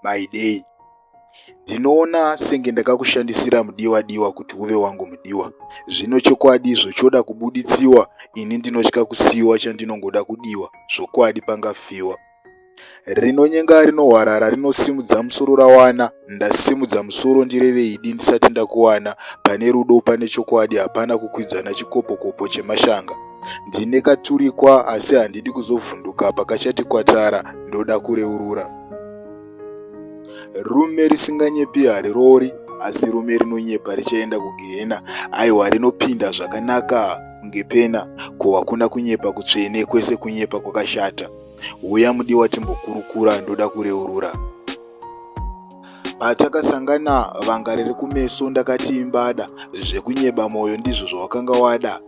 Maidei, ndinoona senge ndakakushandisira mudiwa diwa kuti uve wangu mudiwa. Zvino chokwadi zvochoda kubuditsiwa ini ndinotya kusiiwa chandinongoda kudiwa zvokwadi pangafiwa. Rinonyenga rinohwarara rinosimudza musoro rawana ndasimudza musoro ndireveidi ndisati ndakuwana pane rudo pane chokwadi hapana kukwidzana chikopokopo chemashanga ndine katurikwa asi handidi kuzovhunduka pakachati kwatara ndoda kureurura rume risinganyepi hariroori asi rume rinonyepa richaenda kugehena aiwa rinopinda zvakanaka kunge pena ko hakuna kunyepa kutsvene kwese kunyepa kwakashata huya mudiwa timbokurukura ndoda kureurura Patakasangana vanga riri kumeso ndakati imbada zvekunyeba moyo ndizvo zvawakanga wada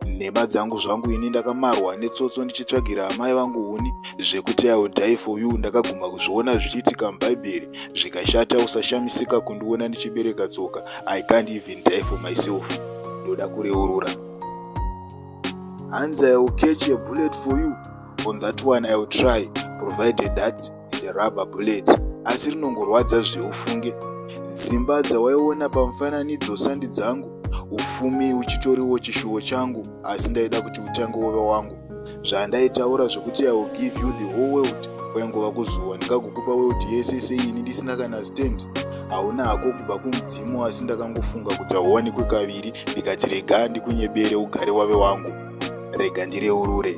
nhema dzangu zvangu ini ndakamarwa netsotso ndichitsvagira amai vangu huni zvekuti iwill die for you ndakaguma kuzviona zvichiitika mubhaibheri zvikashata usashamisika kundiona ndichibereka tsoka i can't even die for myself ndoda kureurura hanzi i will catch a bullet for you on that one i will try provided that is a rubber bullet asi rinongorwadza zveufunge dzimba dzawaiona pamufananidzo sandi dzangu ufumi uchitoriwo chishuwo changu asi ndaida kuti utange wove wangu zvandaitaura zvekuti i will give you the whole world kwaingova kuzuwa ndikagokupa world yese seini ndisina kana stand hauna hako kubva kumudzimu asi ndakangofunga kuti hauwanikwe kaviri ndikati rega ndikunyebere ugare wave wangu rega ndireurure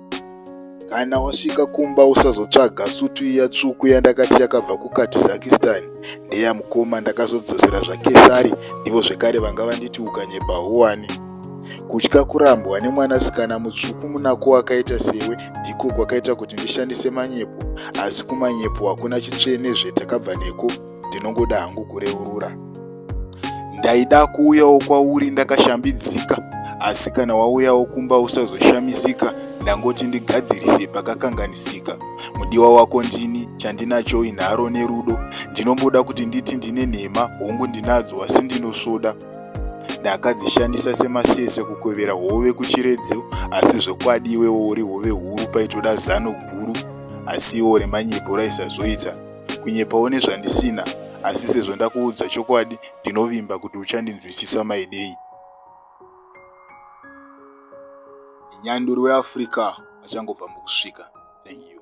kana wasvika kumba usazotsvaga sutu iya tsvuku yandakati yakabva kukatizakistan ndeya mukoma ndakazodzosera zvakesari ndivo zvekare vanga vanditi ukanyepa huwani kutya kurambwa nemwanasikana mutsvuku munako wakaita sewe ndiko kwakaita kuti ndishandise manyepo asi kumanyepo hakuna chitsvene zvetakabva neko ndinongoda hangu kureurura ndaida kuuyawo kwauri ndakashambidzika asi kana wauyawo kumba usazoshamisika ndangoti ndigadzirise pakakanganisika mudiwa wako ndini chandinacho inharo nerudo ndinongoda kuti nditi ndine nhema hongu ndinadzo asi ndinosvoda ndakadzishandisa semasese kukwevera hove kuchiredzo asi zvokwadi iwewo uri hove huru paitoda zano guru asi iwo remanyepo raisazoita kunyepawo nezvandisina asi sezvo ndakuudza chokwadi ndinovimba kuti uchandinzwisisa maidei nyanduri weafrica achangobva mukusvika thank you